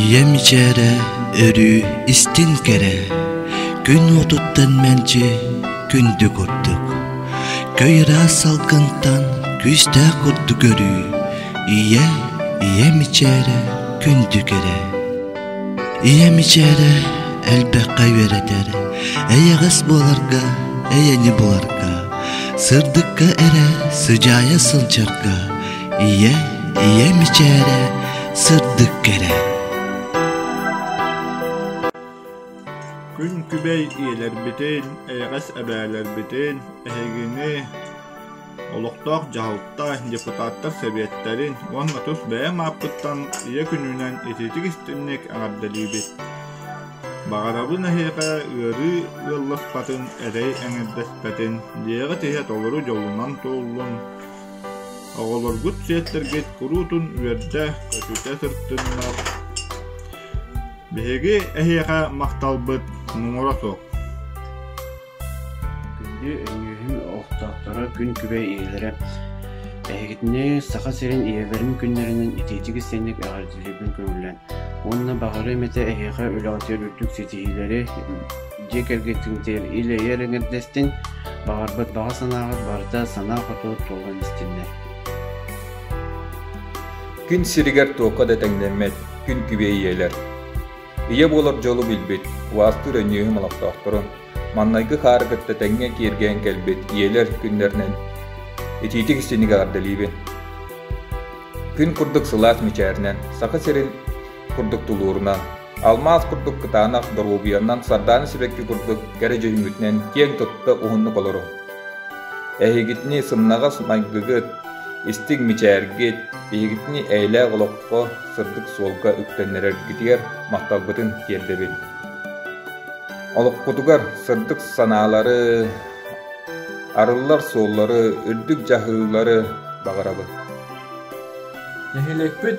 ийэм мичээрэ өрүү истин кэрэ күн уотуттан мэлдьи күндү курдук көй ыраас салгынтан күүстээх курдук өрүү ийэ ийэ мичээрэ күндү кэрэ ийэ мичээрэ элбэххэ үөрэтэр эйэҕэс буоларга эйэни буларга сырдыкка эрэ сыдьаайа сылдьарга ийэ ийэ мичээрэ сырдык кэрэ күн күбэй ийэлэрбитин эйэҕэс эбээлэрбитин эһигини олохтоох дьаһалта депутаттар сэбиэттэрин уонна тус бэйэм ааппыттан ийэ күнүнэн ититик истинник эҕэрдэлиибит баҕарабын эһиэхэ ыарыы ыалласпатын эрэй эҥэрдэспэтин дьиэҕит иһэ толору дьолунан туоллун Оҕолоргут сиэттэргит куруутун үөрдэ, көтүтэ сырытыннар. Биһиги эһиэхэ махталбыт муҥура суох. Күндү өйүүһү охтоохторо күн күбэй ийэлэрэ эһигитини Саха сирин ийэлэрин күннэринэн итиитик истинник эҕэрдэлиибин көҥүллэн уонна баҕарыам этэ эһиэхэ үлэҕитигэр үрдүк ситиһиилэри, дьиэ кэргэттиҥ үлэйэр эҥэрдэстин, баҕарбыт баҕа санааҕыт барыта санаа-хотуу туолан истиннэр. Күн сиригэр туохха да тэҥнэммэт күн күбэй ийэлэр. Ийэ буолар дьолу билбит, убаастыыр өнньүөһүм олохтоохторун, маннайгы хаары кытта тэҥҥэ киэргээн кэлбит ийэлэр күннэринэн итиитик истинник эҕэрдэлиибин. Күн курдук сылаас мичээринэн Саха сирин курдук тулуурунан, алмаас курдук кытаанах доруобуйанан сардаана сибэкки курдук кэрэ дьүһүммүтүнэн киэҥ тутта уһуннук олору. Эһигитини сымнаҕас майгыгыт, истиҥ мичээргит биһигитини эйэлээх олоххо сырдык суолга үктэннэрэргитигэр махталбытын тиэрдэбин. Олоххутугар сырдык санаалары, арыллар суоллары, үрдүк дьаһыыллары баҕарабын. Нэһилиэкпит